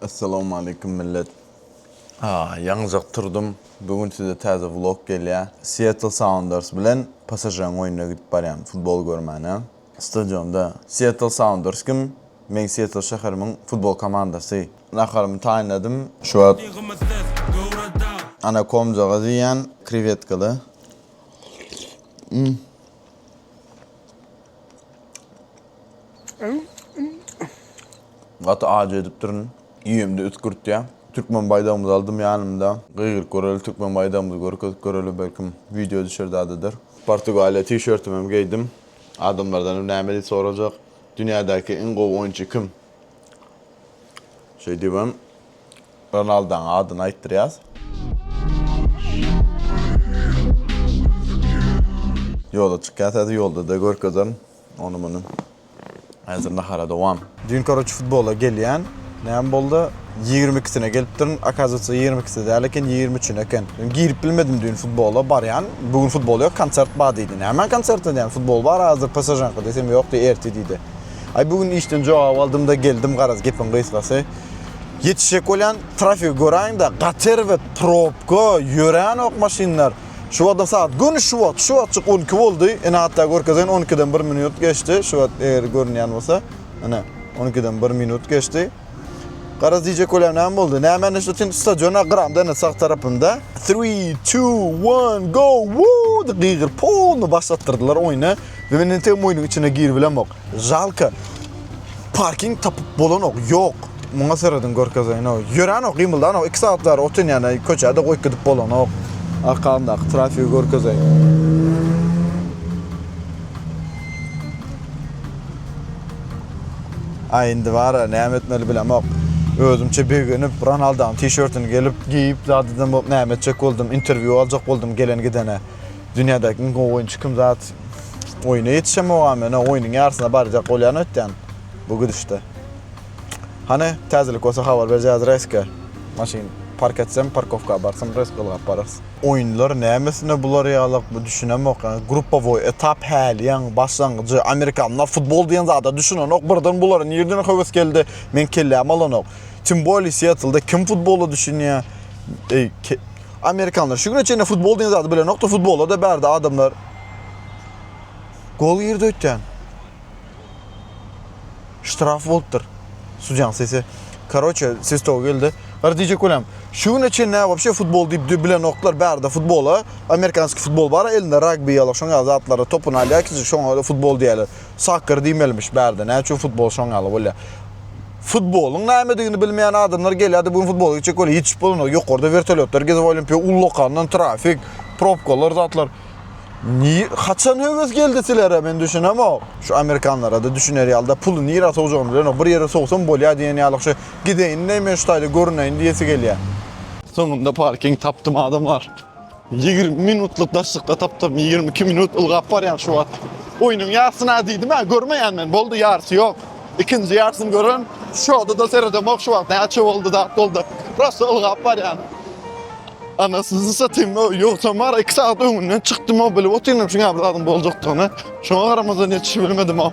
Essalawmaleýkum millet. Haa, ýaňyjak turdum. Bu gün size täze vlog gelýä. Seattle Sounders bilen PSŽ-nyň oýnuna gidip barýan, futbol görmäne. Stadionda Seattle Sounders kim? Meň Seattle şäherimiň futbol komandasy. Naharymy taýynladym. Şu wagt anakomjagaz iýýän, krewetkaly. Mmm. Gaty ajy edipdirin. Iýemde üsgürtýä. Türkmen baýdagymyzy aldym ýanymda. Gygyryp göreli türkmen baýdagymyzy görkezip göreli belkim wideo düşer dadydyr. Portugaliýa tişörtüm hem geýdim. Adamlardan hem näme diýip sorajak. Dünýädäki iň gowy oýunçy kim? Şeýdibem. Ronaldaň adyny aýtdyrýas. Ýola çykýas häzir ýoldada görkezerin ony muny. Häzir nahara dowam. Düýn koroçe futbola gelýän näme boldy ýigrimi ikisine gelipdirin akazywatsa ýigrimi ikisi däl eken ýigrimi üçine eken men girip bilmedim düýn futbola barýan bu gün futbol ýok konsert bar diýdi nämäň konserti diýýän futbol bar azdyr psžnyňky diýsem ýok diýdi ertir diýdi aý bu gün işden jogap aldymda geldim garaz gepiň gysgasy Ýetişjek bolýan trafigi göräýiň-de, gater we probka, ýöränok maşynlar. Şu wagtam sagat, göni şu wagt, şu wagtjyk on iki boldy, ine hatda görkezen on ikiden bir minut geçdi, şu wagt eger görünýän bolsa, ine, on ikiden bir minut geçdi. Garaz diýjek bolýan näme boldy? Näme indi şu tin stadiona gyramda indi sag tarapymda. Three, two, one, go! Woo! diýip gygyryp, polny başlatdyrdylar oýny we men indi tem oýnuň içine giribilemok. Žalka. Parking tapyp bolanok. Ýok. Muňa serediň görkezeýinok. Ýöränok, gymyldanok. Iki sagat bäri otyn ýana köçäde goýup gidip bolanok. Arkamdaky trafigi görkezeýin. Aý indi bara näme etmeli bilemok. Özümçe begenip Ronaldonyň tişörtini gelip geýip zat eden bolup näme etjek boldum. Interwýu aljak boldum gelen gidene. Dünýädäki iň gowy oýunçy kim zat. Oýna ýetişemogam, ýöne oýnuň ýarysyna barjak bolýan öýtýän bu gidişde. Hany, täzelik bolsa habar berjäs Reske. Maşyn park etsem, parkowka barsam Resk ylgap bararys. Oýunlar nämesine bular ýalak bu düşünemok ýa gruppowoý etap häliýeň başlangyjy amerikanlar futbol diýen zada düşünenok birden bulara nirden höwes geldi meň kelläm alanok tym bolýa siýetlda kim futbola düşünýä eý Amerikanlar şu güne çenli futbol diýen zady bilenokdy, futbola-da bärde adamlar. Gol girdi öýtýän. Ştraf bolupdyr. Sudýaň sesi. Karoçe, sestow geldi. Gara diýjek bolýam. Şu güne çenli wapşe futbol diýip dü bilenokdylar, bärde futbola. Amerikanski futbol bar, elinde ragbi ýaly şoň ýaly zatlara topun alýar, kiçijik şoňa futbol diýýärler. Soccer diýmelimiş bärde näme üçin futbol şoň ýaly bolýar. Futbolyň nämedigini bilmeýän adamlar gelýärdi bu gün futbola gitjek bolýar hiç iş bolanok ýokarda wertolýotlar gezip olimpiýa ullakandan trafik propkalar zatlar Niye, haçan höwes geldi silere men düşünemok. Şu amerikanlara da düşüner ýalda puly nira sowjagyny bilenok. Bir ýere sowsam bolýar diýen ýaly şu gideýin näme şu taýda görüneýin diýesi gelýär. Soňunda parking tapdym adamlar. Ýigrimi minutlyk daşlykda tapdym, ýigrimi iki minut ylgap barýan şu wagt. Oýnuň ýarsyna diýdim-ä, görmeýän men, boldy ýarsy ýok. Ikinji ýarsyny gören, şoda-da seredemok şu wagt, näçe boldy, zat boldy. Prosta ylgap barýan. Anasyny satyn, ýogsam bar, iki sagat öňünden çykdym-ow, bilip otyryn şuňa bir zadyň boljakdygyny. Şoňa garamazdan ýetişibilmedim-ow.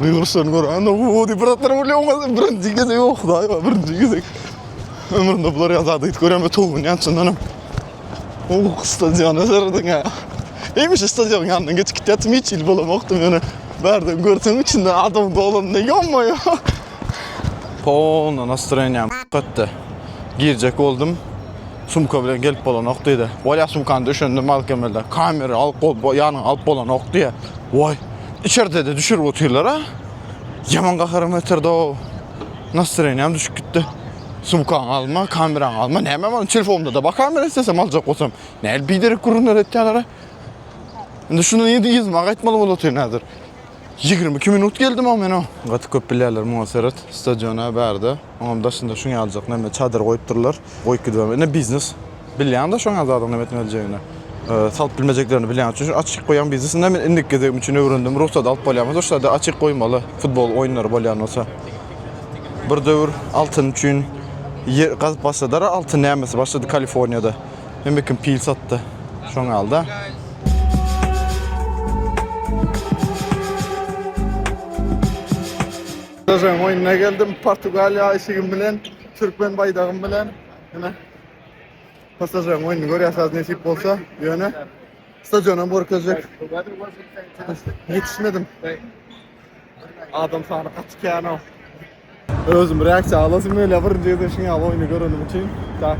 Gygyrşan gör, ana o diýip bir zatlar bolýar, oňa birinji gezek ýok, daýy bar, birinji gezek. Ömründe bular ýa zady hiç görýän, towun ýan çyndan hem. O stadion eserden ýa. Eýmiş stadion ýandan geçip gitýärdim, hiç il bolamokdym ýöne. Bärden görsem içinde adam dolanda ýommaý. Polna nastroýeniýam gatdy. Girjek boldum. Sumka bilen gelip bolanok diýdi. Bolýa sumkany düşendim malkemelde. Kamera alyp bol, ýanyňa alyp bolanok diýýä. Woý. Içerde de düşürüp otyrlar ha. Yaman gaharym getirdi o. Nastroyeniyam düşüp gitti. Sumkan alma, kameran alma. Neyme alma? Telefonumda da bak kamera istesem alacak olsam. Neyli biderek kurunlar ettiler ha. Şimdi şunu yedi yızma gaytmalı bol otur nedir? 22 minut geldim ama ben o. Gatı köp bilerler muha seret. Stadiona berdi. Onuň daşynda şuň ýaljak näme çadyr goýup durlar. Goýup gidibem. Ine biznes. Bilýäň-de şoň ýaly zadyň näme etmeli jeýini. Salyp bilmejeklerini bilýän üçin şu açyk goýan biznes. Ine men indiki gezegim üçin öwrendim. Rugsat alyp bolýarmy şu şada açyk goýmaly futbol oýunlary bolýan bolsa. Bir döwür altyn üçin ýer gazyp başladylar-a altyn nämesi başlady Kaliforniýada. Hemme kim pil satdy. Şoň ýaly-da. Özüm oyuna geldim. Portugaliya işigim bilen, Türkmen baydagym bilen. Yine. Pasajyň oyunu görýäsiz nesip bolsa, ýöne stadiona görkezjek. Ýetişmedim. Adam sany gaty kän o. Özüm reaksiýa alasym gelýär birinji gezek şuňa oyunu görenim üçin. Tak.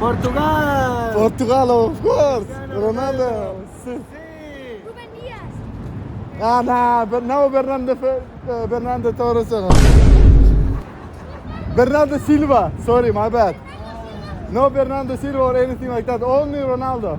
Portugal! Portugal of course. Ronaldo. Sí. Ruben Dias. Ah, no, but no Bernardo uh, Bernardo Torres. Bernardo Silva. Sorry, my bad. No Bernardo Silva or anything like that. Only Ronaldo.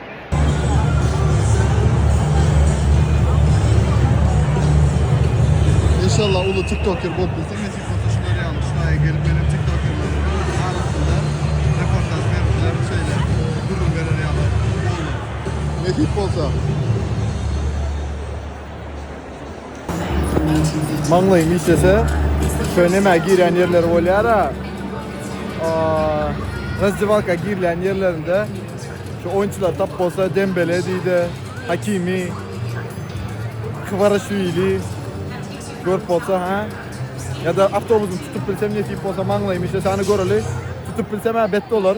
İnşallah ulu tiktoker bolup bilsek nesip bolsa şular ýaly şaýa gelip meniň tiktokerleriň arasynda reportaj berip bilen şeýle gürrüň berer ýaly bolar. Nesip bolsa. Maňlaýym işlese, şöý nämä girýän ýerleri bolýara. Razdiwalka girýän ýerlerinde şu oýunçylar tap bolsa Dembele diýdi, Hakimi, Kvarashvili görüp bolsa ha. Ya da avtobusyny tutup bilsem netip bolsa maňlaýym işlese, hany göreli. Tutup bilsem ha bet bolar.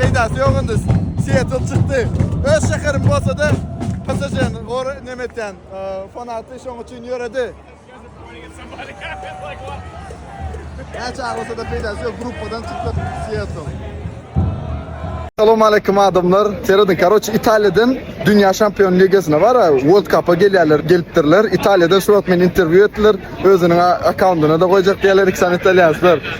Peýdasy ýok indi. Seattle çykdy. Öz şäherim bolsa-da, PSŽ-ni gor nemetýän, e, fanaty şoň üçin ýöredi. Näçe aglasa da peýdasy ýok, gruppadan çykdyk Siýetl. Salam aleýkum adamlar. Serediň karoç Italiýadan dünýä şampion ligasyna bara World Cup-a gelýärler, gelipdirler. Italiýadan şuwagt meni interwýu etdiler. Özüniň a-akkaundyna-da goýjak diýýärler iki sany italýanslar.